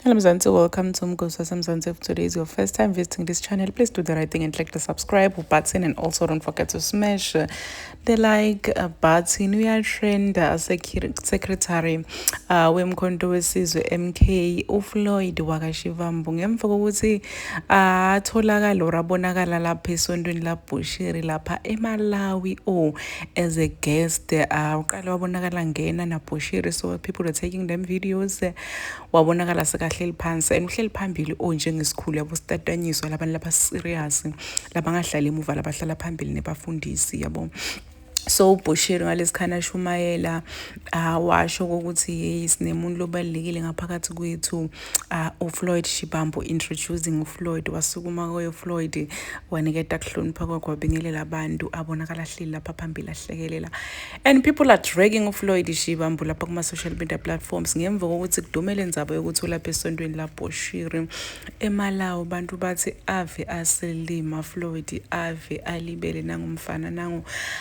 Hello Mzansi, welcome to Mgosi Samzansi. If today is your first time visiting this channel, please do the right thing and click the subscribe button and also don't forget to smash the like uh, button. We are trend uh, secretary uh, wemkhonto wesizwe MK uFloyd wakashivambu ngemva kokuthi uh, atholakala or abonakala lapha esontweni laBushiri lapha eMalawi o oh, as a guest uh, uqale wabonakala ngena nabhoshiri so people are taking them videos wabonakala sekahleli phansi and uhleli phambili onjengesikhulu oh, yabo sitatanyiswa labantu laba serious labangahlali emuva labahlala phambili nebafundisi yabo so ubhoshiri ngalesikhathi ashumayela uh, washo ukuthi yeyi sinemuntu lobalulekile ngaphakathi kwethu uh, ufloyd shibambo introducing ufloyd wasukuma koyo floyd waniketa kuhlonipha kwakhe wabingelela abantu abonakala ahleli lapha phambili ahlekelela and people are dragging ufloyd shibambo lapha kuma-social media platforms ngemva kokuthi kudumele nzaba yokuthi ulapha esontweni labhoshiri emalawo abantu bathi ave aselima floyd ave alibele nangumfana nangu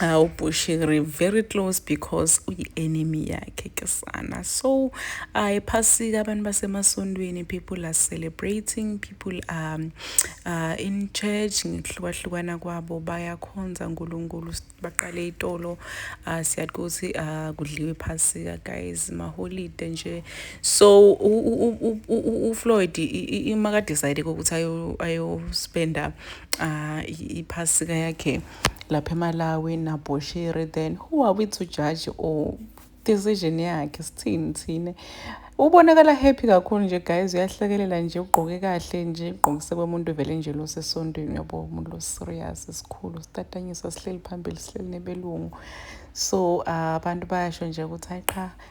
awu uh, bushiri very close because uyi-enemy yakhe ke sana so uh, ephasika abantu basemasondweni people are celebrating people are um, uh, in church ngikuhlukahlukana kwabo bayakhonza unkulunkulu baqale itolo uh, siyathi ukuthi uh, kudliwe iphasika guys maholide nje so ufloyd imakadecide kokuthi ayospenda um uh, iphasika yakhe lapha eMalawi naBoshiri then who are we to judge or decision yakhe sithini thina ubonakala happy kakhulu nje guys uyahlekelela nje ugqoke kahle nje ugqokise komuntu vele nje losesontweni uyabo umuntu loserious esikhulu sitatanyiswa sihleli phambili sihleli nebelungu so ah, abantu uh, bayasho nje ukuthi hayi qha